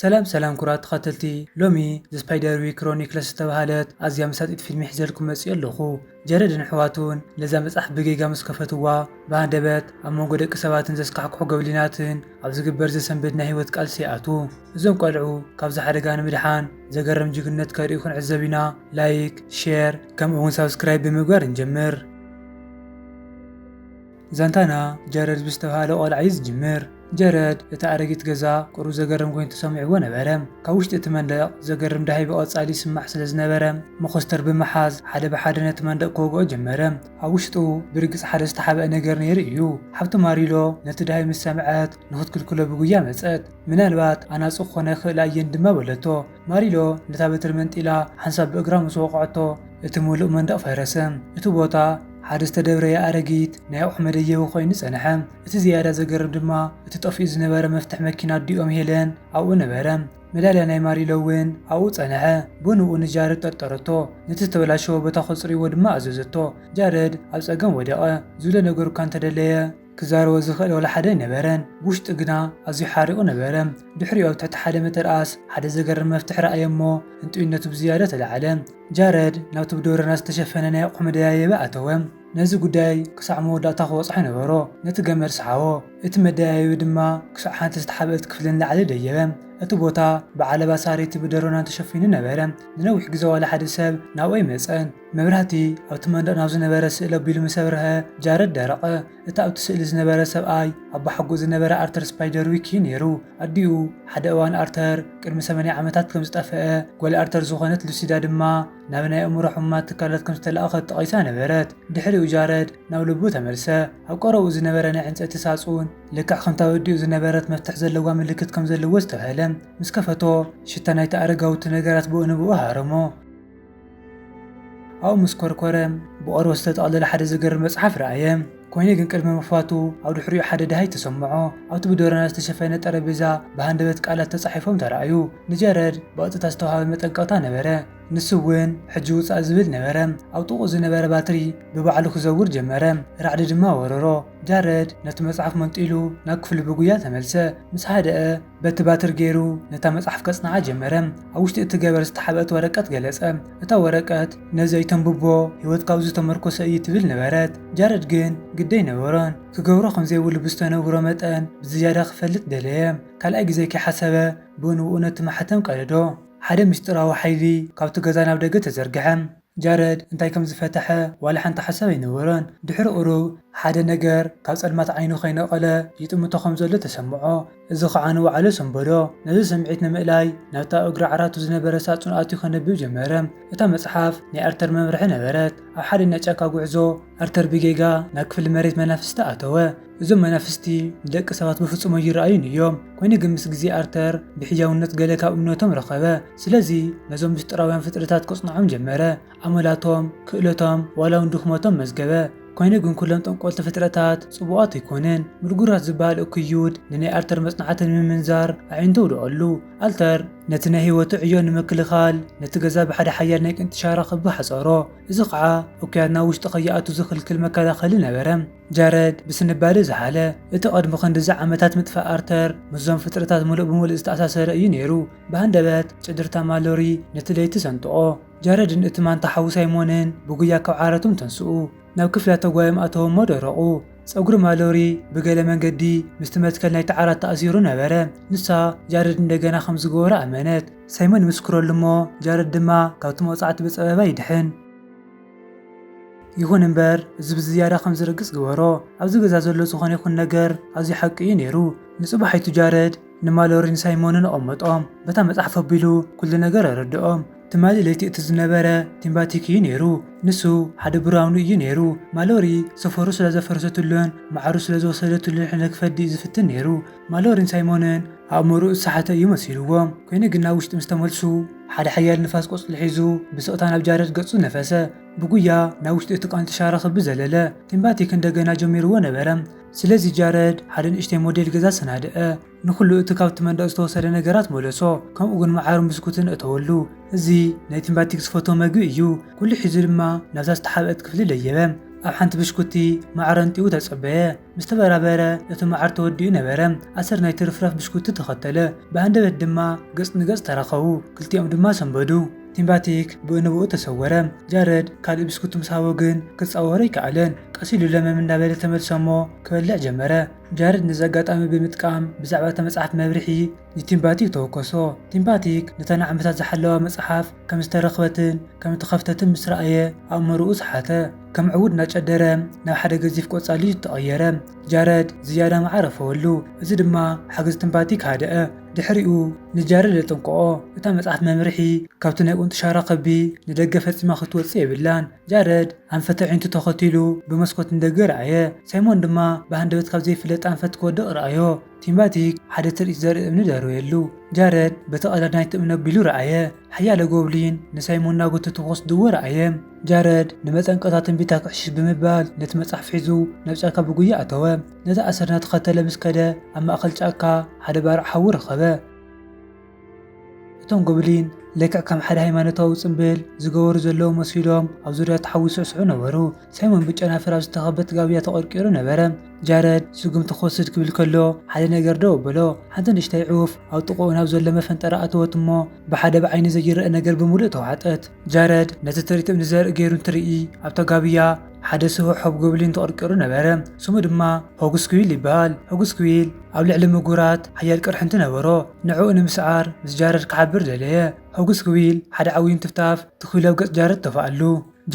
ሰላም ሰላም ኩቡራት ተኸተልቲ ሎሚ The Spiderwick Chronicles ዝተባህለት ኣዝያ መሳጢት ፊልሚ ሒዘልኩም መጺኤ ኣለኹ። ጀረድን ኣሕዋቱን ነዛ መጽሓፍ ብጌጋ ምስ ከፈትዋ ብሃንደበት ኣብ መንጎ ደቂ ሰባትን ዘስካሕክሑ ጎብሊናትን ኣብ ዝግበር ዘሰንብድ ናይ ህይወት ቃልሲ ይኣትዉ። እዞም ቆልዑ ካብዚ ሓደጋ ንምድሓን ዘገርም ጅግንነት ከርእዩ ክንዕዘብ ኢና ላይክ፣ ሼር ከምኡ'ውን ሳብስክራይብ ብምግባር ንጀምር። ዛንታና ጀረድ ብዝተብሃለ ቆልዓ እዩ ዝጅምር። ጀረድ እታ ኣረጊት ገዛ ቁሩብ ዘገርም ኮይኑ ተሰሚዕዎ ነበረ። ካብ ውሽጢ እቲ መንደቕ ዘገርም ዳህይ ብቐጻሊ ይስማዕ ስለ ዝነበረ፣ መኾስተር ብምሓዝ ሓደ ብሓደ ነቲ መንደቕ ክወግኦ ጀመረ። ኣብ ውሽጡ ብርግጽ ሓደ ዝተሓብኣ ነገር ነይሩ እዩ። ሓብቲ ማሪሎ ነቲ ዳህይ ምስ ሰምዐት ንኽትክልክሎ ብጉያ መጸት። ምናልባት ኣናጹ ክኾና ይኽእላ እየን ድማ በለቶ። ማሪሎ ነታ በትሪ መንጢላ ሓንሳብ ብእግራ ምስ ወቕዐቶ፣ እቲ ምሉእ መንደቕ ፈረሰ። እቲ ቦታ ሓደ ዝተደብረየ ኣረጊት ናይ ኣቑሑ መደየቢ ኰይኑ ጸንሐ። እቲ ዝያዳ ዘገርም ድማ እቲ ጠፊኡ ዝነበረ መፍትሕ መኪና ኣዲኦም ሄለን ኣብኡ ነበረ። መዳልያ ናይ ማሪሎ እውን ኣብኡ ጸንሐ። ብንኡ ንጃረድ ጠርጠረቶ፣ ነቲ ዝተበላሸወ ቦታ ከጽርይዎ ድማ ኣዘዘቶ። ጃረድ ኣብ ጸገም ወደቐ። ዝብሎ ነገሩ'ኳ እንተደለየ፣ ክዛረቦ ዝኽእል ዋላ ሓደ ኣይነበረን። ብውሽጡ ግና ኣዝዩ ሓሪቑ ነበረ። ድሕሪኡ ኣብ ትሕቲ ሓደ መተርኣስ ሓደ ዘገርም መፍትሕ ረኣየ እሞ ህንጡይነቱ ብዝያዳ ተላዕለ። ጃረድ ናብቲ ብዶረናት ዝተሸፈነ ናይ ኣቑሑ መደያየቢ ኣተወ። ነዚ ጉዳይ ክሳዕ መወዳእታ ክበጽሖ ነበሮ። ነቲ ገመድ ሰሓቦ። እቲ መደያየቢ ድማ ክሳዕ ሓንቲ ዝተሓብእት ክፍሊ ንላዕሊ ደየበ። እቲ ቦታ ብዓለባ ሳርየቲ ብደሮናን ተሸፊኑ ነበረ። ንነዊሕ ግዜ ዋላ ሓደ ሰብ ናብኡ ኣይመጸን። መብራህቲ ኣብቲ መንደቕ ናብ ዝነበረ ስእሊ ኣቢሉ ምስ ኣብርሀ፣ ጃረድ ደረቐ። እቲ ኣብቲ ስእሊ ዝነበረ ሰብኣይ፣ ኣቦሓጎኡ ዝነበረ ኣርተር ስፓይደርዊክ እዩ ነይሩ። ኣዲኡ፣ ሓደ እዋን ኣርተር ቅድሚ ሰማንያ ዓመታት ከም ዝጠፍአ፣ ጓል ኣርተር ዝዀነት ሉሲዳ ድማ ናብ ናይ ኣእምሮ ሕሙማት ትካላት ከም ዝተላእከት ጠቒሳ ነበረት። ድሕሪኡ ጃረድ ናብ ልቡ ተመልሰ። ኣብ ቀረባኡ ዝነበረ ናይ ዕንጸይቲ ሳጹን፣ ልክዕ ከምቲ ኣብ ኣዲኡ ዝነበረት መፍትሕ ዘለዋ ምልክት ከም ዘለዎ ኣስተብሃለ። ምስ ከፈቶ፣ ሽታ ናይቲ ኣረጋዊ እቲ ነገራት ብኡ ንብኡ ሃረሞ። ኣብኡ ምስ ኰርኰረ፣ ብቖርበት ዝተጠቕለለ ሓደ ዘገርም መጽሓፍ ረኣየ። ኰይኑ ግን ቅድሚ ምኽፋቱ ኣብ ድሕሪኡ ሓደ ደሃይ ተሰምዖ። ኣብቲ ብደሮናት ዝተሸፈነ ጠረጴዛ ብሃንደበት ቃላት ተጻሒፎም ተራእዩ። ንጀረድ ብቐጥታ ዝተዋህበ መጠንቀቕታ ነበረ፣ ንሱ እውን ሕጂ ውጻእ ዝብል ነበረ። ኣብ ጥቕኡ ዝነበረ ባትሪ ብባዕሉ ክዘውር ጀመረ፣ ራዕዲ ድማ ወረሮ። ጃረድ ነቲ መጽሓፍ መንጢሉ ናብ ክፍሉ ብጉያ ተመልሰ። ምስ ሃደኣ፣ በቲ ባትሪ ገይሩ ነታ መጽሓፍ ከጽንዓ ጀመረ። ኣብ ውሽጢ እቲ ገበር ዝተሓብአት ወረቀት ገለጸ። እታ ወረቀት፣ ነዚ ኣይተንብቦ፣ ህይወትካ ኣብ'ዚ ዝተመርኮሰ እዩ ትብል ነበረት። ጃረድ ግን ግዲ ኣይነበሮን። ክገብሮ ከም ዘይብሉ ብዝተነግሮ መጠን ብዝያዳ ክፈልጥ ደለየ። ካልኣይ ግዜ ከይሓሰበ ብኡንብኡ ነቲ ማሕተም ቀደዶ። ሓደ ምስጢራዊ ሓይሊ ካብ'ቲ ገዛ ናብ ደገ ተዘርግሐ። ጃረድ እንታይ ከም ዝፈተሐ ዋላ ሓንቲ ሓሳብ ኣይነበሮን። ድሕሪ ቁሩብ ሓደ ነገር ካብ ጸልማት ዓይኑ ከይነቐለ ይጥምቶ ከም ዘሎ ተሰምዖ። እዚ ኸኣ ንውዓሎ ሰንበዶ። ነዚ ስምዒት ንምእላይ ናብታ ኣብ እግሪ ዓራቱ ዝነበረ ሳጹን ኣትዩ ከንብብ ጀመረ። እታ መጽሓፍ ናይ ኣርተር መምርሒ ነበረት። ኣብ ሓደኛ ጫካ ጉዕዞ ኣርተር ብጌጋ ናብ ክፍሊ መሬት መናፍስቲ ኣተወ። እዞም መናፍስቲ ንደቂ ሰባት ብፍጹም ኣይረኣዩን እዮም። ኰይኑ ግን ምስ ግዜ ኣርተር ብሕያውነት ገለ ካብ እምነቶም ረኸበ። ስለዚ ነዞም ምስጢራውያን ፍጥረታት ከጽንዖም ጀመረ። ኣመላቶም፣ ክእለቶም፣ ዋላውን ድኽመቶም መዝገበ። ኰይኑ ግን ኵሎም ጠንቈልቲ ፍጥረታት ጽቡቓት ኣይኰኑን። ምልጉራት ዝበሃል እኩይ ይሁድ ንናይ ኣርተር መጽናዕቲ ንምምንዛር ኣዒንቱ ኣውደቐሉ። ኣልተር ነቲ ናይ ህይወቱ ዕዮ ንምክልኻል ነቲ ገዛ ብሓደ ሓያል ናይ ቅንጢ ሻራ ክቢ ሓጸሮ። እዚ ኸኣ እኩያት ናብ ውሽጢ ከይኣትዉ ዝኽልክል መከላኸሊ ነበረ። ጃረድ ብስንባደ ዝሓለ፣ እቲ ቐድሚ ኽንድዚ ዓመታት ምጥፋእ ኣርተር ምስዞም ፍጥረታት ምሉእ ብምሉእ ዝተኣሳሰረ እዩ ነይሩ። ብሃንደበት ጭድርታ ማሎሪ ነቲ ለይቲ ሰንጥቖ። ጃረድን እቲ ማንታ ሓዉ ሳይሞንን ብጉያ ካብ ዓራቶም ተንስኡ። ናብ ክፍሊ ኣተጓዮም ኣተዉ እሞ ደረቑ። ጸጕሪ ማሎሪ ብገለ መንገዲ ምስቲ መትከል ናይቲ ዓራት ተኣሲሩ ነበረ። ንሳ፣ ጃረድ እንደገና ኸም ዝገበሮ ኣመነት። ሳይሞን ይምስክረሉ እሞ ጃረድ ድማ ካብቲ መቕጻዕቲ ብጸበባ ይድሕን። ይኹን እምበር እዚ ብዝያዳ ከም ዝርግጽ ግበሮ። ኣብዚ ገዛ ዘሎ ዝኾነ ይኹን ነገር ኣዝዩ ሓቂ እዩ ነይሩ። ንጽባሒቱ ጃረድ ንማሎሪን ሳይሞንን ኣቐመጦም። በታ መጽሓፍ ኣቢሉ ኩሉ ነገር ኣረድኦም። ትማሊ ለይቲ እቲ ዝነበረ ቲምባቲክ እዩ ነይሩ። ንሱ ሓደ ብራውኒ እዩ ነይሩ። ማሎሪ ሰፈሩ ስለ ዘፍረሰትሉን መዓሩ ስለ ዝወሰደትሉን ሕነ ክፈዲ እዩ ዝፍትን ነይሩ። ማሎሪን ሳይሞንን ኣእምሮኡ ዝሰሓተ እዩ መሲልዎም። ኰይኑ ግን ናብ ውሽጢ ምስ ተመልሱ፣ ሓደ ሓያል ንፋስ ቆጽሊ ሒዙ ብስቕታ ናብ ጃረድ ገጹ ነፈሰ። ብጉያ ናብ ውሽጢ እቲ ቃንጪ ሻራ ክብ ዘለለ። ቲምባቲክ እንደገና ጀሚርዎ ነበረ። ስለዚ ጃረድ ሓደ ንእሽተይ ሞዴል ገዛ ኣሰናድኣ። ንዅሉ እቲ ካብቲ መንደቕ ዝተወሰደ ነገራት መለሶ፣ ከምኡ'ውን መዓርን ብስኩትን ኣእተወሉ። እዚ ናይ ቲምባቲክ ዝፈትዎ መግቢ እዩ። ኵሉ ሒዙ ድማ ናብታ ዝተሓብአት ክፍሊ ደየበ። ኣብ ሓንቲ ብሽኩቲ፣ መዓር ኣንጢቡ ተጸበየ። ምስ ተበራበረ እቲ መዓር ተወዲኡ ነበረ። ኣሰር ናይ ትርፍራፍ ብሽኩቲ ተኸተለ። ብሃንደበት ድማ ገጽ ንገጽ ተራኸቡ። ክልቲኦም ድማ ሰንበዱ። ቲምባቲክ ብኡንብኡ ተሰወረ። ጃረድ ካልእ ብስኩቲ ምስ ሃቦ ግን ክጻወሮ ኣይከኣለን። ቀስ ኢሉ ለመም እንዳበለ ተመልሰ'ሞ ክበልዕ ጀመረ። ጃረድ ነዚ ኣጋጣሚ ብምጥቃም ብዛዕባ እታ መጽሓፍ መብርሂ ንቲምባቲክ ተወከሶ። ቲምባቲክ ነታ ንዓመታት ዝሓለዋ መጽሓፍ ከም ዝተረኽበትን ከም እተኸፍተትን ምስ ረኣየ ኣእምሮኡ ሰሓተ። ከም ዕዉድ እናጨደረ ናብ ሓደ ገዚፍ ቆጻል ልጅ ተቐየረ። ጃረድ ዝያዳ መዓር ኣፈወሉ፣ እዚ ድማ ሓገዝ ቲምባቲክ ሃደኣ። ድሕሪኡ ንጃረድ ኣጠንቀቖ፣ እታ መጽሓፍ መምርሒ ካብቲ ናይ ቁንጢ ሻራ ከብቢ ንደገ ፈጺማ ክትወጽእ የብላን። ጃረድ ኣንፈት ኣዒንቱ ተኸቲሉ ብመስኮት ንደገ ረኣየ። ሳይሞን ድማ ብሃንደበት ካብ ዘይፍለጥ ኣንፈት ክወድቕ ረኣዮ። ቲማቲክ ሓደ ትርኢት ዘርኢ እምኒ ደርበየሉ። ጃረድ በቲ ቀዳድ ናይቲ እምኒ ኣቢሉ ረኣየ። ሓያሎ ጎብሊን ንሳይሞን እናጎተቱ ክወስድዎ ረኣየ። ጃረድ ንመጠንቀቕታ ትንቢታ ክዕሽሽ ብምባል ነቲ መጽሓፍ ሒዙ ናብ ጫካ ብጉያ ኣተወ። ነቲ ኣሰር እናተኸተለ ምስ ከደ ኣብ ማእከል ጫካ ሓደ ባርዕ ሓዊ ረኸበ። እቶም ጎብሊን ልክዕ ከም ሓደ ሃይማኖታዊ ጽምብል ዝገበሩ ዘለዉ መሲሎም ኣብ ዙርያ ተሓዊሱ ይስዕስዑ ነበሩ። ሳይሞን ብጨናፍር ኣብ ዝተኸበት ጋብያ ተቐርቂሩ ነበረ። ጃረድ ስጉምቲ ክወስድ ክብል ከሎ ሓደ ነገር ደው ኣበሎ። ሓንቲ ንእሽተይ ዑፍ ኣብ ጥቕኡ ናብ ዘሎ መፈንጠራ ኣተወት እሞ ብሓደ ብዓይኒ ዘይረኣ ነገር ብምሉእ ተዋሕጠት። ጃረድ ነቲ ትርኢት እምኒ ዘርኢ ገይሩ እንትርኢ ኣብታ ጋብያ፣ ሓደ ስቡሕ ሆብጎብሊን ተቐርቂሩ ነበረ፣ ስሙ ድማ ሆግስኩዊል ይበሃል። ሆግስኩዊል ኣብ ልዕሊ ምጉራት ሓያል ቅርሒ እንትነበሮ፣ ንዕኡ ንምስዓር ምስ ጃረድ ክሓብር ደለየ። ሆግስኩዊል ሓደ ዓብዪ እንትፍታፍ ትኪሉ ኣብ ገጽ ጃረድ ተፋኣሉ።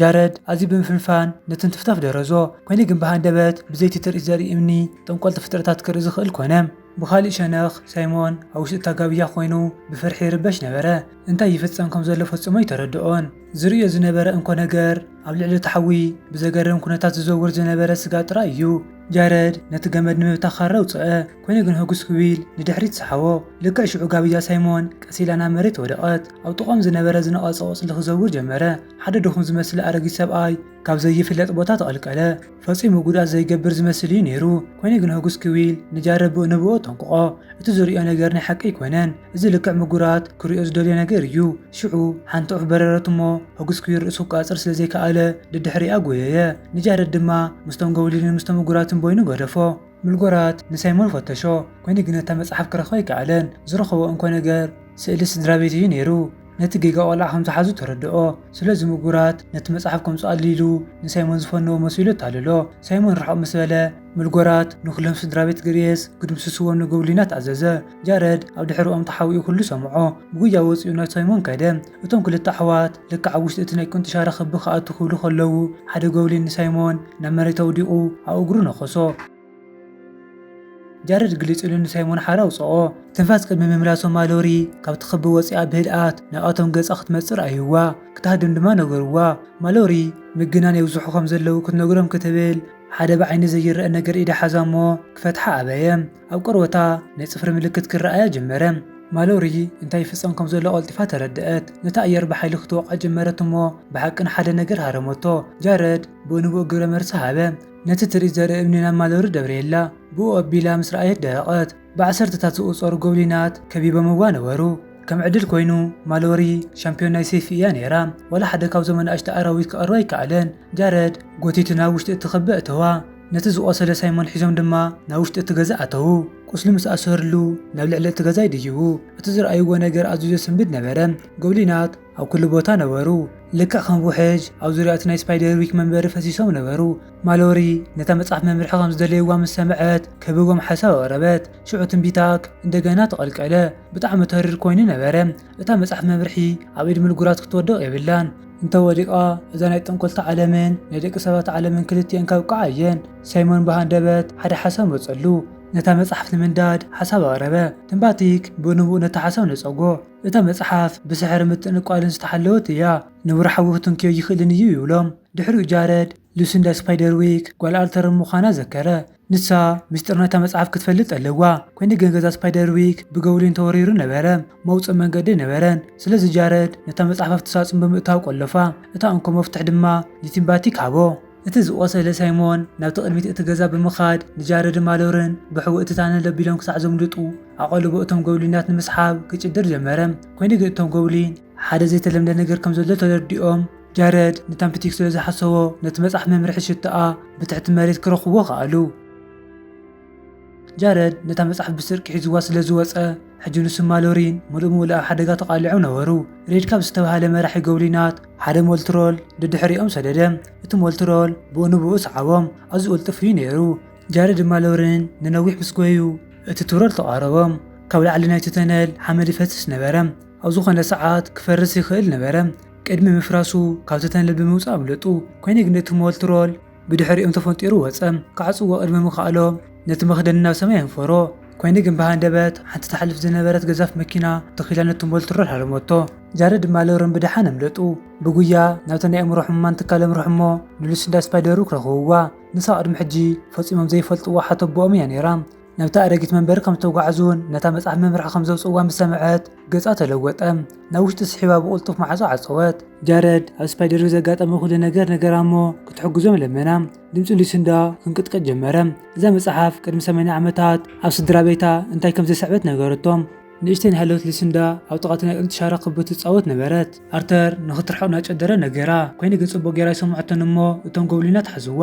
ጃረድ ኣዝዩ ብምፍንፋን ነቲ እንትፍታፍ ደረዞ፣ ኰይኑ ግን ብሃንደበት ብዘይቲ ትርኢት ዘርኢ እምኒ ጠንቆልቲ ፍጥረታት ክርኢ ዝኽእል ኰነ። ብኻሊእ ሸነኽ፣ ሳይሞን ኣብ ውሽጢ እታ ጋብያ ዀይኑ ብፍርሒ ይርበሽ ነበረ። እንታይ ይፍጸም ከም ዘሎ ፈጽሞ ኣይተረድኦን። ዝርእዮ ዝነበረ እንኮ ነገር፣ ኣብ ልዕሊ እቲ ሓዊ ብዘገርም ኵነታት ዝዘውር ዝነበረ ስጋ ጥራይ እዩ። ጃረድ ነቲ ገመድ ንምብታኽ ኻራ ኣውጽኣ፣ ኰይኑ ግን ህጕስ ክብል ንድሕሪት ሰሓቦ። ልክዕ ሽዑ ጋብያ ሳይሞን ቀስ ኢላ ናብ መሬት ወደቐት። ኣብ ጥቓኦም ዝነበረ ዝነቐጸ ቈጽሊ ክዘውር ጀመረ። ሓደ ድኹም ዝመስል ኣረጊት ሰብኣይ ካብ ዘይፍለጥ ቦታ ተቐልቀለ። ፈጺሙ ጉድኣት ዘይገብር ዝመስል እዩ ነይሩ። ኮይኑ ግን ሆግስ ክዊል ንጃረብ ብኡ ንብኡ ኣጠንቁቖ። እቲ ዝርእዮ ነገር ናይ ሓቂ ኣይኮነን። እዚ ልክዕ ምጉራት ክርእዮ ዝደልዮ ነገር እዩ። ሽዑ ሓንቲ ዑፍ በረረት እሞ ሆግስ ክዊል ርእሱ ክቛጽር ስለ ዘይከኣለ ደድሕሪኣ ጎየየ። ንጃረድ ድማ ምስቶም ጎብሊንን ምስቶም ምጉራትን በይኑ ገደፎ። ምልጎራት ንሳይሞን ፈተሾ፣ ኮይኑ ግን እታ መጽሓፍ ክረኽባ ኣይከኣለን። ዝረኸቦ እንኮ ነገር ስእሊ ስድራቤት እዩ ነይሩ። ነቲ ጌጋ ቆልዓ ከም ዝሓዙ ተረድኦ። ስለዚ ምጉራት ነቲ መጽሓፍ ከምጽኣሉ ኢሉ ንሳይሞን ዝፈነዎ መሲሉ ኣታለሎ። ሳይሞን ርሕቕ ምስ በለ፣ ምልጎራት ንኹሎም ስድራቤት ግርየስ ክድምስስዎም ንጎብሊናት ኣዘዘ። ጃረድ ኣብ ድሕርኦም ተሓቢኡ ኩሉ ሰምዖ። ብጉያ ወጺኡ ናብ ሳይሞን ከደ። እቶም ክልተ ኣሕዋት ልክዕ ኣብ ውሽጢ እቲ ናይ ቁንጥሻ ርኽቢ ክኣትዉ ክብሉ ከለዉ፣ ሓደ ጎብሊን ንሳይሞን ናብ መሬት ኣውዲቑ ኣብ እግሩ ነኸሶ። ጃረድ ግልጽ ኢሉ ንሳይሞን ሓራ ኣውጽኦ። ትንፋስ ቅድሚ ምምላሶም ማሎሪ ካብቲ ክቢ ወጺኣ ብህድኣት ናብኣቶም ገጻ ክትመጽእ ረኣይዋ። ክትሃድም ድማ ነገርዋ። ማሎሪ ምግናን የብዝሑ ከም ዘለዉ ክትነግሮም ክትብል ሓደ ብዓይኒ ዘይረኣ ነገር ኢዳ ሓዛ እሞ ክፈትሓ ኣበየ። ኣብ ቆርበታ ናይ ጽፍሪ ምልክት ክረኣያ ጀመረ። ማሎሪ እንታይ ይፍጸም ከም ዘሎ ቀልጢፋ ተረድኣት። ነታ ኣየር ብሓይሊ ክትወቕዓ ጀመረት እሞ ብሓቂ ንሓደ ነገር ሃረመቶ። ጃረድ ብኡ ንብኡ ግብረ መልሲ ሃበ። ነቲ ትርኢት ዘርኢ እምኒ ናብ ማሎሪ ደብረየላ። ብኡ ኣቢላ ምስ ረኣየት ደረቐት። ብዓሰርተታት ዝቑጸሩ ጎብሊናት ከቢቦምዋ ነበሩ። ከም ዕድል ኰይኑ ማሎሪ ሻምፕዮን ናይ ሰይፊ እያ ነይራ። ዋላ ሓደ ካብዞም ኣናእሽቱ ኣራዊት ክቐርባ ኣይከኣለን። ጃረድ ጐቲቱ ናብ ውሽጢ እቲ ክቢ ኣእተዋ። ነቲ ዝቖሰለ ሳይሞን ሒዞም ድማ ናብ ውሽጢ እቲ ገዛ ኣተዉ። ቁስሉ ምስ ኣሰሩሉ ናብ ልዕሊ እቲ ገዛ ይድይቡ። እቲ ዝረኣይዎ ነገር ኣዝዩ ዘስንብድ ነበረ። ጎብሊናት ኣብ ኩሉ ቦታ ነበሩ። ልክዕ ከም ውሕጅ ኣብ ዙርያ እቲ ናይ ስፓይደርዊክ መንበሪ ፈሲሶም ነበሩ። ማሎሪ ነታ መጽሓፍ መምርሒ ከም ዝደለይዋ ምስ ሰምዐት ከብቦም ሓሳብ ኣቕረበት። ሽዑ ትንቢታክ እንደገና ተቐልቀለ። ብጣዕሚ ተሪር ኮይኑ ነበረ። እታ መጽሓፍ መምርሒ ኣብ ኢድ ምልጉራት ክትወድቕ የብላን። እንተ ወዲቓ እዛ ናይ ጠንቆልቲ ዓለምን ናይ ደቂ ሰባት ዓለምን ክልቲኤን ከብቅዓ እየን። ሳይሞን ብሃንደበት ሓደ ሓሳብ መጸሉ። ነታ መጽሓፍ ንምንዳድ ሓሳብ ኣቕረበ። ትምባቲክ ብንቡእ ነቲ ሓሳብ ነጸጎ። እታ መጽሓፍ ብስሕርን ምትእንቋልን ዝተሓለወት እያ። ንቡር ሓዊ ክትንክዮ ኣይክእልን እዩ ይብሎም። ድሕሪኡ ጃረድ፣ ሉሲንዳ ስፓይደርዊክ ጓል ኣልተርን ምዃና ዘከረ። ንሳ ምስጢር ናይታ መጽሓፍ ክትፈልጥ ኣለዋ። ኰይኑ ግን ገዛ ስፓይደርዊክ ብጎብሊን ተወሪሩ ነበረ፣ መውጽኢ መንገዲ ኣይነበረን። ስለዚ ጃረድ ነታ መጽሓፍ ኣብቲ ሳጹን ብምእታው ቈለፋ፣ እታ እንኮ መፍትሕ ድማ ንቲም ባቲክ ሃቦ። እቲ ዝቖሰለ ሳይሞን ናብቲ ቅድሚት እቲ ገዛ ብምኻድ ንጃረድን ማሎርን ብሕቡእ እቲ ታነል ኣቢሎም ክሳዕ ዘምልጡ ኣቐልቦ እቶም ጎብሊናት ንምስሓብ ክጭድር ጀመረ። ኰይኑ ግን እቶም ጎብሊን። ሓደ ዘይተለምደ ነገር ከም ዘሎ ተረዲኦም ጃረድ ንታምፕቲክ ስለ ዝሓሰቦ ነቲ መጽሓፍ መምርሒ ሽቶኣ ብትሕቲ መሬት ክረኽብዎ ከኣሉ። ጃረድ ነታ መጽሓፍ ብስርቂ ሒዝዋ ስለ ዝወጸ ሕጂ ንሱ ማሎሪን ምሉእ ምሉእ ኣብ ሓደጋ ተቓሊዖም ነበሩ። ሬድ ካብ ዝተባህለ መራሒ ጎብሊናት ሓደ ሞልትሮል ደድሕሪኦም ሰደደ። እቲ ሞልትሮል ብኡ ንብኡ ሰዓቦም፣ ኣዝዩ ቅልጡፍ እዩ ነይሩ። ጃረድን ማሎሪን ንነዊሕ ምስ ጎዩ እቲ ትሮል ተቓረቦም። ካብ ላዕሊ ናይቲ ተነል ሓመድ ይፈስስ ነበረ። ኣብ ዝኾነ ሰዓት ክፈርስ ይኽእል ነበረ። ቅድሚ ምፍራሱ ካብቲ ተነል ብምውጻእ ኣምለጡ። ኮይኑ ግን እቲ ሞልትሮል ብድሕሪኦም ተፈንጢሩ ወጸ። ክዓጽዎ ቅድሚ ምኽኣሎም ነቲ መኽደኒ ናብ ሰማይ ኣንፈሮ። ኮይኑ ግን ብሃንደበት ሓንቲ ትሓልፍ ዝነበረት ገዛፍ መኪና ትኽ ኢላ ነቲ ሞልትሮል ሃረመቶ። ጃረድ ድማ ሎረን ብደሓን ኣምለጡ። ብጉያ ናብታ ናይ ኣእምሮ ሕሙማን ትካል ኣምርሑ'ሞ ንሉሲንዳ ስፓይደርዊክ ረኽብዋ። ንሳ ቅድሚ ሕጂ ፈጺሞም ዘይፈልጥዋ ሓተቦኦም እያ ነይራ። ናብታ ኣረጊት መንበሪ ከም ዝተጓዕዙን ነታ መጽሓፍ መምርሒ ከም ዘውጽእዋ ምስ ሰምዐት ገጻ ተለወጠ። ናብ ውሽጢ ስሒባ ብቕልጡፍ ማዕጾ ዓጸወት። ጃረድ ኣብ ስፓይደርዌይ ዘጋጠመ ኩሉ ነገር ነገራ እሞ ክትሕግዞም ለመና። ድምጺ ሉሲንዳ ክንቅጥቅጥ ጀመረ። እዛ መጽሓፍ ቅድሚ ሰማንያ ዓመታት ኣብ ስድራቤታ እንታይ ከም ዘስዕበት ነገረቶም። ንእሽተይ ናይ ሃለወት ሊሲንዳ ኣብ ጥቓቲ ናይ ቕልጽ ሻራ ክብ ትጻወት ነበረት። ኣርተር ንኽትርሕቕ እናጨደረ ነገራ። ኮይነ ግን ጽቡቕ ገይራ ኣይሰምዐቶን እሞ እቶም ጎብሊናት ሓዝዋ።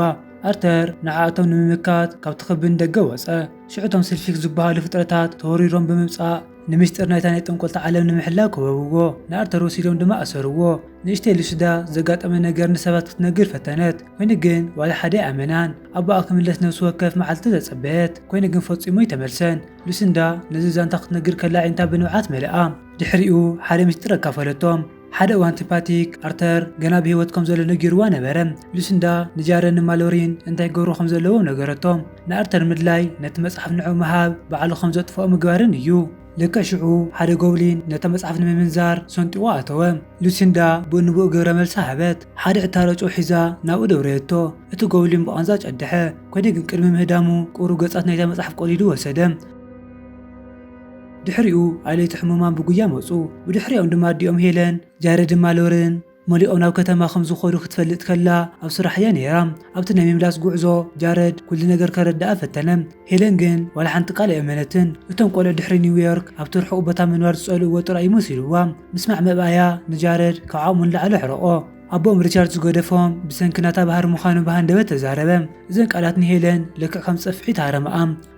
ኣርተር ንዓኣቶም ንምምካት ካብቲ ክብ ንደገ ወጸ። ሽዑ እቶም ስልፊክስ ዝበሃሉ ፍጥረታት ተወሪሮም ብምምጻእ ንምስጢር ናይታ ናይ ጠንቆልቲ ዓለም ንምሕላው ከበብዎ። ንኣርተር ወሲዶም ድማ ኣሰርዎ። ንእሽተይ ሊሲንዳ ዘጋጠመ ነገር ንሰባት ክትነግር ፈተነት ኮይኑ ግን ዋላ ሓደ ኣይኣመናን። ኣቦኣ ክምለስ ነብሲ ወከፍ መዓልቲ ተጸበየት ኮይኑ ግን ፈጺሙ ኣይተመልሰን። ሉሲንዳ ነዚ ዛንታ ክትነግር ከላ ኣዒንታ ብንብዓት መለኣ። ድሕሪኡ ሓደ ምስጢር ኣካፈለቶም። ሓደ እዋን ቲፓቲክ፣ ኣርተር ገና ብህይወት ከም ዘሎ ነጊሩዋ ነበረ። ሉሲንዳ ንጃረንን ማሎሪን እንታይ ክገብሩ ከም ዘለዎም ነገረቶም። ንኣርተር ምድላይ ነቲ መጽሓፍ ንዕኡ ምሃብ ባዕሉ ከም ዘጥፍኦ ምግባርን እዩ። ልክዕ ሽዑ ሓደ ጎብሊን ነታ መጽሓፍ ንምምንዛር ሰንጢቑ ኣተወ። ሉሲንዳ ብኡ ንብኡ ግብረ መልሲ ሃበት። ሓደ ዕታሮ ጨው ሒዛ ናብኡ ደውረየቶ። እቲ ጎብሊን ብቓንዛ ጨደሐ። ኮዲ ግን ቅድሚ ምህዳሙ ቁሩብ ገጻት ናይታ መጽሓፍ ቆሊዱ ወሰደ። ድሕሪኡ ኣለይቲ ሕሙማን ብጉያ መጹ። ብድሕሪኦም ድማ ኣዲኦም ሄለን፣ ጃሬድ ድማ ሎርን መሊኦም ናብ ከተማ ከም ዝኸዱ ክትፈልጥ ከላ ኣብ ስራሕ እያ ነይራ። ኣብቲ ናይ ምምላስ ጉዕዞ ጃረድ ኩሉ ነገር ከረድኣ ፈተነ። ሄለን ግን ዋላ ሓንቲ ቃል ኣይኣመነትን። እቶም ቆልዑ ድሕሪ ኒውዮርክ ኣብቲ ርሑቕ ቦታ ምንባር ዝጸልእዎ ጥራይ እዩ መሲልዋ። ምስማዕ ምእባያ ንጃረድ ካብ ዓቕሙ ንላዕሊ ኣሕረቖ። ኣቦኦም ሪቻርድ ዝገደፎም ብሰንኪ ናታ ባህሪ ምዃኑ ብሃንደበት ተዛረበ። እዘን ቃላት ንሄለን ልክዕ ከም ጸፍዒ ተሃረመኣ።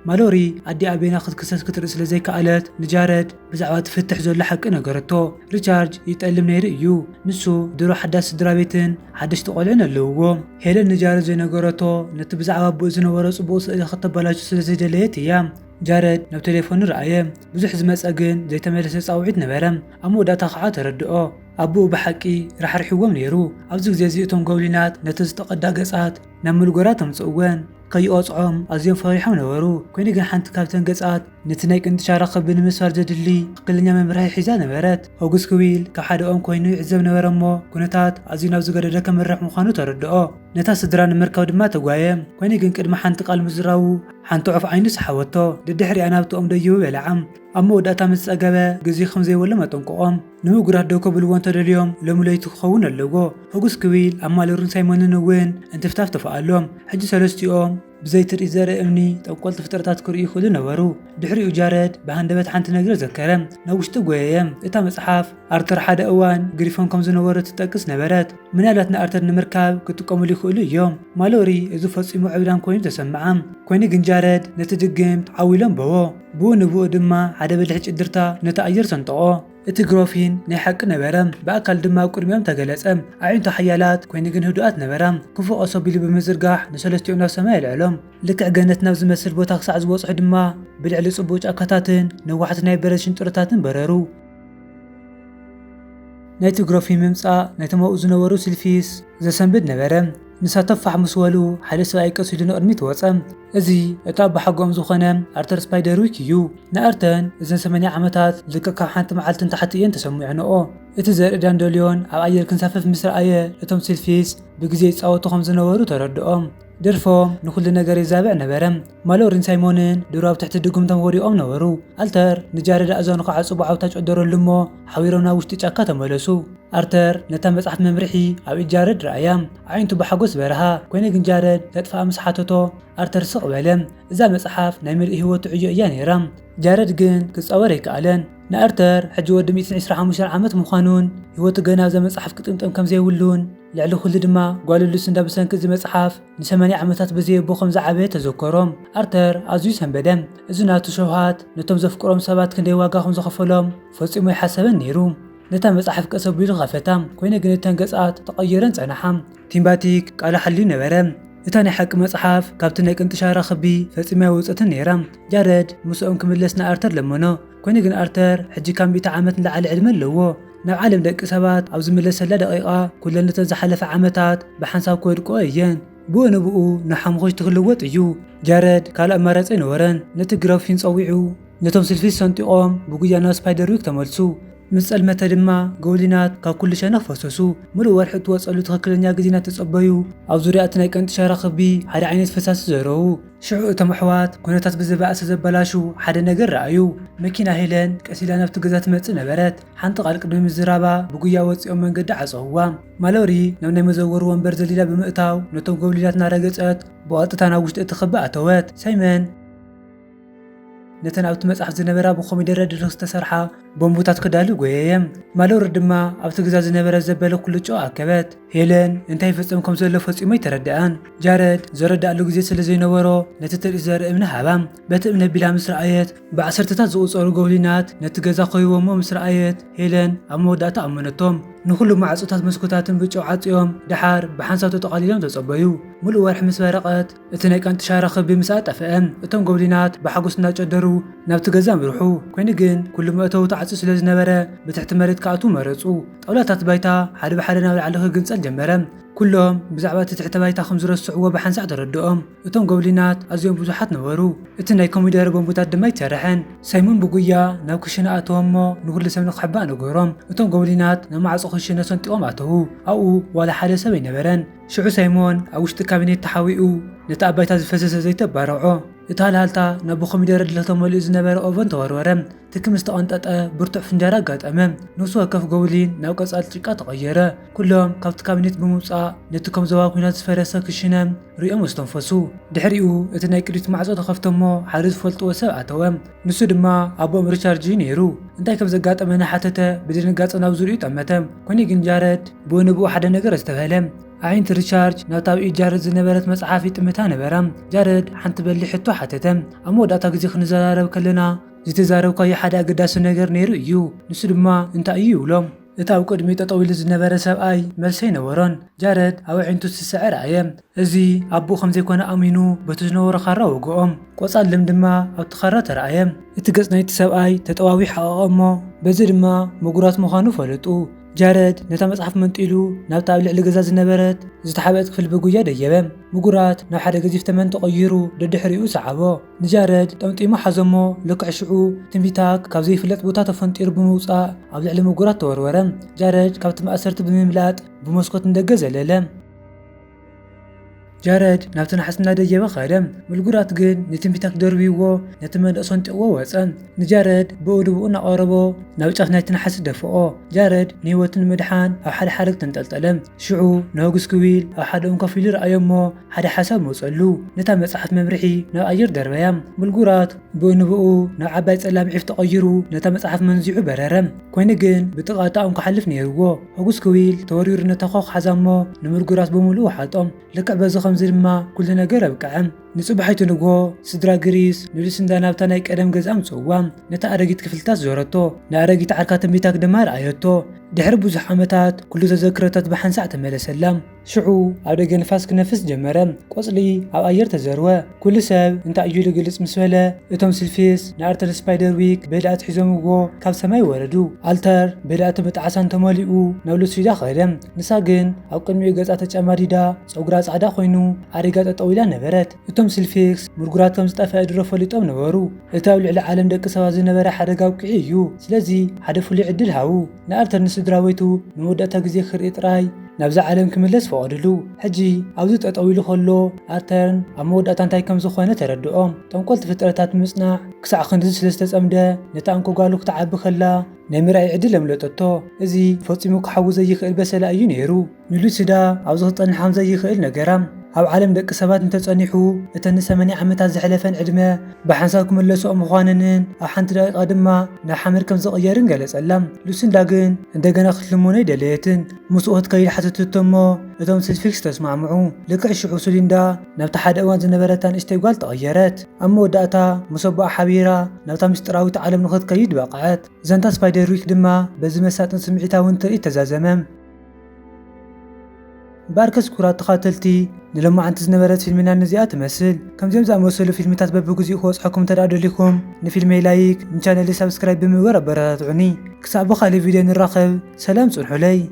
ማሎሪ ኣዲኣ ቤና ክትክሰስ ክትርኢ ስለ ዘይከኣለት ንጃረድ ብዛዕባ እቲ ፍትሕ ዘሎ ሓቂ ነገረቶ። ሪቻርድ ይጠልም ነይሩ እዩ። ንሱ ድሮ ሓዳስ ስድራቤትን ሓደሽቲ ቆልዑን ኣለውዎ። ሄለን ንጃረድ ዘይነገረቶ ነቲ ብዛዕባ ኣቦኡ ዝነበሮ ጽቡቕ ስእሊ ከተበላሹ ስለ ዘይደለየት እያ። ጃረድ ናብ ቴሌፎኑ ረኣየ። ብዙሕ ዝመጸ ግን ዘይተመለሰ ጻውዒት ነበረ። ኣብ መወዳእታ ከኣ ተረድኦ። ኣቡኡ ብሓቂ ራሕሪሕዎም ነይሩ። ኣብዚ ግዜ እዚ እቶም ጎብሊናት ነቲ ዝተቐድኣ ገጻት ናብ ምልጎራት ኣምጽእወን። ከይቐጽዖም ኣዝዮም ፈሪሖም ነበሩ፣ ኰይኑ ግን ሓንቲ ካብተን ገጻት ነቲ ናይ ቅንጥሻራ ክቢ ንምስባር ዘድሊ ትኽክለኛ መምርሒ ሒዛ ነበረት። ሆግስ ክዊል ካብ ሓደ ኦም ኰይኑ ይዕዘብ ነበረ እሞ ኵነታት ኣዝዩ ናብ ዝገደደ ከምርሕ ምዃኑ ተረድኦ። ነታ ስድራ ንምርካብ ድማ ተጓየም፣ ኰይኑ ግን ቅድሚ ሓንቲ ቃል ምዝራቡ ሓንቲ ዑፍ ዓይኑ ሰሓበቶ። ደድሕሪኣ ናብቲ ኦም ደይቡ በለዓም። ኣብ መወዳእታ ምስ ጸገበ ግዜ ከም ዘይብሎም ኣጠንቀቖም። ንምጉራት ደው ከብልዎ እንተ ደልዮም ሎሚ ለይቲ ክኸውን ኣለዎ። ሕጉስ ክዊል፣ ኣብ ማለሩን ሳይሞንን እውን እንትፍታፍ ተፋኣሎም። ሕጂ ሰለስቲኦም ብዘይ ትርኢት ዘርኢ እምኒ ጠንቆልቲ ፍጥረታት ክርእዩ ይኽእሉ ነበሩ። ድሕሪኡ ጃረድ ብሃንደበት ሓንቲ ነገር ዘከረ። ናብ ውሽጢ ጐየየ። እታ መጽሓፍ፣ ኣርተር ሓደ እዋን ግሪፎን ከም ዝነበሮ እትጠቅስ ነበረት። ምናልባት ንኣርተር ንምርካብ ክጥቀሙሉ ይኽእሉ እዮም። ማሎሪ እዚ ፈጺሙ ዕብዳን ኰይኑ ተሰምዓ። ኰይኑ ግን ጃረድ ነቲ ድግምት ዓው ኢሉ ኣንበቦ። ብኡ ንብኡ ድማ ሓደ በሊሕ ጭድርታ ነቲ ኣየር ሰንጠቖ። እቲ ግሮፊን ናይ ሓቂ ነበረ፣ ብኣካል ድማ ኣብ ቅድሚኦም ተገለጸ። ኣዒንቱ ሓያላት ኰይኑ ግን ህዱኣት ነበራ፣ ክፉእ ቐስ ኣቢሉ ብምዝርጋሕ ንሰለስቲኦም ናብ ሰማይ ኣልዐሎም። ልክዕ ገነት ናብ ዝመስል ቦታ ክሳዕ ዝበጽሑ ድማ ብልዕሊ ጽቡቕ ጫካታትን ነዋሕቲ ናይ በረድ ሽንጥሮታትን በረሩ። ናይቲ ግሮፊን ምምጻእ ነቶም ኣብኡ ዝነበሩ ስልፊስ ዘሰንብድ ነበረ። ንሳቶም ፋሕ ምስ በሉ፣ ሓደ ሰብኣይ ቀስ ኢሉ ንቕድሚት ወጸ። እዚ እቲ ኣቦሓጎኦም ዝዀነ ኣርተር ስፓይደርዊክ እዩ። ንኣርተርን እዘን ሰማንያ ዓመታት ልክዕ ካብ ሓንቲ መዓልቲ ንታሕቲ እየን ተሰሚዖንኦ። እቲ ዘርኢ ዳንደልዮን ኣብ ኣየር ክንሳፈፍ ምስ ረኣየ፣ እቶም ሲልፊስ ብግዜ ይጻወቱ ከም ዝነበሩ ተረድኦም። ደርፎም ንዅሉ ነገር የዛብዕ ነበረ። ማሎሪን ሳይሞንን ድሮ ኣብ ትሕቲ ድጕምቶም ወዲቖም ነበሩ። ኣርተር ንጃረዳ እዝኑ ክዓጽቦ ዓውታ ጨደረሉ እሞ፣ ሓቢሮም ናብ ውሽጢ ጫካ ተመለሱ። ኣርተር ነታ መጽሓፍ መምርሒ ኣብ ኢድ ጃረድ ረኣያ። ኣዒንቱ ብሓጎስ በርሃ። ኰይኑ ግን ጃረድ ከጥፍኣ ምስ ሓተቶ፣ ኣርተር ስቕ በለ። እዛ መጽሓፍ ናይ ምልእቲ ህይወቱ ዕዮ እያ ነይራ። ጃረድ ግን ክጻወር ኣይከኣለን። ንኣርተር ሕጂ ወዲ ሚእትን ዕስራ ሓሙሽተን ዓመት ምዃኑን ህይወቱ ገና ኣብዛ መጽሓፍ ክጥምጠም ከም ዘይብሉን ልዕሊ ዅሉ ድማ ጓሉ ሉስንዳ ብሰንኪ እዚ መጽሓፍ ንሰማንያ ዓመታት ብዘይኣቦ ከም ዝዓበየ ተዘከሮ። ኣርተር ኣዝዩ ሰንበደ። እዚ ናቱ ሸውሃት ነቶም ዘፍቅሮም ሰባት ክንደይ ዋጋ ከም ዝኸፈሎም ፈጺሙ ኣይሓሰበን ነይሩ። ነታ መጽሓፍ ቀስ ኣቢሉ ኸፈታ፣ ኰይነ ግን እተን ገጻት ተቐይረን ጸንሓ። ቲም ባቲክ ቃሉ ሓልዩ ነበረ። እታ ናይ ሓቂ መጽሓፍ ካብቲ ናይ ቅንጢ ሻራ ክቢ ፈጺማ ኣይወጸትን ነይራ። ጃረድ ምሳኦም ክምለስ ንኣርተር ለመኖ፣ ኰይነ ግን ኣርተር ሕጂ ካብ ሚእቲ ዓመት ንላዕሊ ዕድመ ኣለዎ። ናብ ዓለም ደቂ ሰባት ኣብ ዝምለሰላ ደቒቓ፣ ኩለን እተን ዝሓለፋ ዓመታት ብሓንሳብ ክወድቁ እየን። ብኡ ንብኡ ንሓሙኹሽቲ ክልወጥ እዩ። ጃረድ ካልእ ኣማራጺ ኣይነበሮን። ነቲ ግራፊን ጸዊዑ፣ ነቶም ስልፊስ ሰንጢቖም ብጉያ ናብ ስፓይደርዊክ ተመልሱ። ምስ ጸልመተ ድማ ጎብሊናት ካብ ኩሉ ሸነኽ ፈሰሱ። ምሉእ ወርሒ እትወጸሉ ትኽክለኛ ግዜ እናተጸበዩ፣ ኣብ ዙርያ እቲ ናይ ቀንጢ ሸራ ክቢ ሓደ ዓይነት ፈሳሲ ዘረዉ። ሽዑ እቶም ኣሕዋት ኩነታት ብዝበኣሰ ዘበላሹ ሓደ ነገር ረኣዩ። መኪና ሄለን ቀስ ኢላ ናብቲ ገዛ ትመጽእ ነበረት። ሓንቲ ቓል ቅድሚ ምዝራባ ብጉያ ወጺኦም መንገዲ ዓጸውዋ። ማሎሪ ናብ ናይ መዘወሪ ወንበር ዘሊላ ብምእታው ነቶም ጎብሊላት እናረገጸት ብቐጥታ ናብ ውሽጢ እቲ ክቢ ኣተወት። ሳይመን! ነተን ኣብቲ መጽሓፍ ዝነበራ ብኮሚደረ ድርኽ ዝተሰርሓ ቦምቡታት ክዳሉ ጎየየም። ማሎሪ ድማ ኣብቲ ግዛ ዝነበረ ዘበለ ኩሉ ጨው ኣከበት። ሄለን እንታይ ይፍጸም ከም ዘሎ ፈጺሙ ኣይተረድኣን። ጃረድ ዘረዳኣሉ ግዜ ስለ ዘይነበሮ ነቲ ትርኢት ዘርኢ እምኒ ሃባ። በቲ እምኒ ኣቢላ ምስ ረኣየት ብዓሰርተታት ዝቑጸሩ ጎብሊናት ነቲ ገዛ ከቢቦሞ ምስ ረኣየት ሄለን ኣብ መወዳእታ ኣመነቶም። ንኹሉ ማዕጾታት መስኮታትን ብጨው ዓጽዮም ደሓር ብሓንሳብ ተጠቓሊሎም ተጸበዩ። ምሉእ ወርሒ ምስ በረቐት እቲ ናይ ቃንጥሻራ ክቢ ምስ ኣጠፍኣ፣ እቶም ጎብሊናት ብሓጎስ እናጨደሩ ናብቲ ገዛ ኣምርሑ። ኰይኑ ግን፣ ኵሉ መእተዊ ተዓጽዩ ስለ ዝነበረ፣ ብትሕቲ መሬት ክኣትዉ መረጹ። ጣውላታት ባይታ ሓደ ብሓደ ናብ ላዕሊ ክግንጸል ጀመረ። ኵሎም ብዛዕባ እቲ ትሕተ ባይታ ከም ዝረስዕዎ ብሓንሳእ ተረድኦም። እቶም ጎብሊናት ኣዝዮም ብዙሓት ነበሩ፣ እቲ ናይ ኮሚደረ ቦምብታት ድማ ኣይተሰርሐን። ሳይሞን ብጉያ ናብ ክሽነ ኣተወ እሞ ንዅሉ ሰብ ንኽሕባእ ነገሮም። እቶም ጎብሊናት ናብ ማዕጾ ክሽነ ሰንጢቖም ኣተዉ። ኣብኡ ዋላ ሓደ ሰብ ኣይነበረን። ሽዑ ሳይሞን ኣብ ውሽጢ ካቢኔት ተሓዊኡ ነቲ ኣብ ባይታ ዝፈሰሰ ዘይቲ ኣባረዖ። እቲ ሃልሃልታ ናብ ብኮሚደረ ድለኽ ተመሊኡ ዝነበረ ኦቨን ተወርወረ። ትኪ ምስ ተቐንጠጠ ብርቱዕ ፍንጃር ኣጋጠመ። ነፍሲ ወከፍ ጎብሊን ናብ ቀጻሊ ጭቃ ተቐየረ። ኩሎም ካብቲ ካቢኔት ብምውጻእ ነቲ ከም ዞባ ኲናት ዝፈረሰ ክሽነ ርእዮም ኣስተንፈሱ። ድሕሪኡ እቲ ናይ ቅድሚት ማዕጾ ተኸፍተ'ሞ ሓደ ዝፈልጥዎ ሰብ ኣተወ። ንሱ ድማ ኣቦኦም ሪቻርድ እዩ ነይሩ። እንታይ ከም ዘጋጠመ እናሓተተ ብድንጋጸ ናብ ዙርይኡ ጠመተ። ኮነ ግን ጃረድ ብኡ ንብኡ ሓደ ነገር ኣስተብሀለ። ኣዒንቲ ሪቻርድ ናብታ ኣብ ኢድ ጃረድ ዝነበረት መጽሓፍ ይጥምታ ነበራ። ጃረድ ሓንቲ በሊሕ ሕቶ ሓተተ፣ ኣብ መወዳእታ ግዜ ክንዘራረብ ከለና ዝተዛረብካዮ ሓደ ኣገዳሲ ነገር ነይሩ እዩ፣ ንሱ ድማ እንታይ እዩ? ይብሎ። እቲ ኣብ ቅድሚኡ ጠጠው ኢሉ ዝነበረ ሰብኣይ መልሲ ኣይነበሮን። ጃረድ ኣብ ኣዒንቱ ዝስዕስዕ ረኣየ። እዚ ኣቦኡ ከም ዘይኰነ ኣሚኑ በቲ ዝነበሮ ኻራ ወግኦም። ቆጻል ለሚ ድማ ኣብቲ ኻራ ተራእየ። እቲ ገጽ ናይቲ ሰብኣይ ተጠዋዊዩ ሓቐቐ እሞ በዚ ድማ ምጉራት ምዃኑ ፈለጡ። ጃረድ ነታ መጽሓፍ መንጢሉ ናብታ ኣብ ልዕሊ ገዛ ዝነበረት ዝተሓብአት ክፍሊ ብጉያ ደየበ። ምጉራት ናብ ሓደ ገዚፍ ተመን ተቐይሩ ደድሕሪኡ ሰዓቦ። ንጃረድ ጠምጢሙ ሓዞ እሞ ልክዕ ሽዑ ትንቢታክ ካብ ዘይፍለጥ ቦታ ተፈንጢሩ ብምውጻእ ኣብ ልዕሊ ምጉራት ተወርወረ። ጃረድ ካብቲ መእሰርቲ ብምምላጥ ብመስኮት ንደገ ዘለለ። ጃረድ ናብቲ ናሕሲ እናደየበ ኸደ። ምልጉራት ግን ንትንቢታት ደርብይዎ ነቲ መንደቕ ሰንጢቕዎ ወፀ። ንጃረድ ብኡ ድብኡ እናቐረቦ ናብ ጫፍ ናይቲ ናሕሲ ደፍኦ። ጃረድ ንህይወቱ ንምድሓን ኣብ ሓደ ሓረግ ተንጠልጠለ። ሽዑ ንሆግስ ክዊል ኣብ ሓደ ኦም ኮፍ ኢሉ ረኣዮ እሞ ሓደ ሓሳብ መፀሉ። ነታ መፅሓፍ መምርሒ ናብ ኣየር ደርበያ። ምልጉራት ብኡንብኡ ናብ ዓባይ ጸላም ዒፍ ተቐይሩ ነታ መጽሓፍ መንዚዑ በረረ። ኰይኑ ግን ብጥቓ'ታ'ኦም ክሓልፍ ነይርዎ። ሆጉስ ክዊል ተወሪሩ ነታ ዀኽ ሓዛ'ሞ ንምርጕራስ ብምሉኡ ወሓጦ። ልክዕ በዚ ኸምዚ ድማ ኵሉ ነገር ኣብቅዐ። ንጽባሒቱ ንግሆ፣ ስድራ ግሪስ ንሉሲንዳ ናብታ ናይ ቀደም ገዝኣ ኣምጽእዋ። ነታ ኣረጊት ክፍልታት ዞረቶ፣ ንኣረጊት ዓርካ ትንቢታክ ድማ ኣርኣየቶ። ድሕሪ ብዙሕ ዓመታት ኵሉ ተዘክሮታት ብሓንሳዕ ተመለሰላ። ሽዑ ኣብ ደገ ንፋስ ክነፍስ ጀመረ፣ ቆጽሊ ኣብ ኣየር ተዘርወ፣ ኩሉ ሰብ እንታይ እዩ ልግልጽ ምስ በለ፣ እቶም ስልፊስ ንኣርተር ስፓይደርዊክ በሊ ኣትሒዞምዎ ካብ ሰማይ ወረዱ። ኣልተር በሊ ኣተበ ጣዕሳን ተመሊኡ ናብ ሉትስሪዳ ከደ፣ ንሳ ግን ኣብ ቅድሚኡ ገጻ ተጨማዲዳ ጸጉራ ጻዕዳ ኮይኑ ዓሪጋ ጠጠው ኢላ ነበረት። እቶም ስልፊክስ ምርጉራት ከም ዝጠፈኤ ድሮ ፈሊጦም ነበሩ እቲ ኣብ ልዕሊ ዓለም ደቂ ሰባት ዝነበረ ሓደጋ ኣብቂዑ እዩ ስለዚ ሓደ ፍሉይ ዕድል ሃቡ ንኣርተር ንስድራቤቱ ንመወዳእታ ግዜ ክርኢ ጥራይ ናብዛ ዓለም ክምለስ ፈቐድሉ ሕጂ ኣብዚ ጠጠው ኢሉ ከሎ ኣርተር ኣብ መወዳእታ እንታይ ከም ዝኾነ ተረድኦም ጠንቆልቲ ፍጥረታት ብምጽናዕ ክሳዕ ክንድዚ ስለ ዝተጸምደ ነታ እንኮ ጓሉ ክትዓቢ ከላ ናይ ምርኣይ ዕድል ኣምለጠቶ እዚ ፈጺሙ ክሓዊ ዘይክእል በሰላ እዩ ኔሩ ንሉሲዳ ኣብዚ ክትጸንሕ ከም ዘይክእል ነገራ። ኣብ ዓለም ደቂ ሰባት እንተ ጸኒሑ፣ እተን ንሰማንያ ዓመታት ዘሕለፈን ዕድመ ብሓንሳብ ክምለስኦ ምዃነንን ኣብ ሓንቲ ደቒቓ ድማ ናብ ሓመድ ከም ዝቕየርን ገለጸላ። ሉሲንዳ ግን እንደገና ክትልምኖ ኣይደለየትን። ምስኡ ክትከይድ ሓተተቶ እሞ እቶም ስልፊክስ ተስማዕምዑ። ልክዕ ሽዑ ሱሊንዳ ናብታ ሓደ እዋን ዝነበረታ ንእሽተይ ጓል ተቐየረት። ኣብ መወዳእታ ምስ ኣቦኣ ሓቢራ ናብታ ምስጢራዊት ዓለም ንኽትከይድ በቕዐት። ዛንታ ስፓይደርዊክ ድማ በዚ መሳጥን ስምዒታውን ትርኢት ተዛዘመ። እምበኣርከስ ክቡራት ተኻተልቲ ንሎማዓንቲ ዝነበረት ፊልምና ነዚኣ ትመስል። ከምዚኦም ዝኣመሰሉ ፊልምታት በብግዚኡ ክበጽሐኩም እንተድኣ ደሊኹም ንፊልመይ ላይክ ንቻነለይ ሳብስክራይብ ብምግባር ኣበረታትዑኒ። ክሳዕ ብኻልእ ቪድዮ ንራኸብ ሰላም ጽንሑለይ።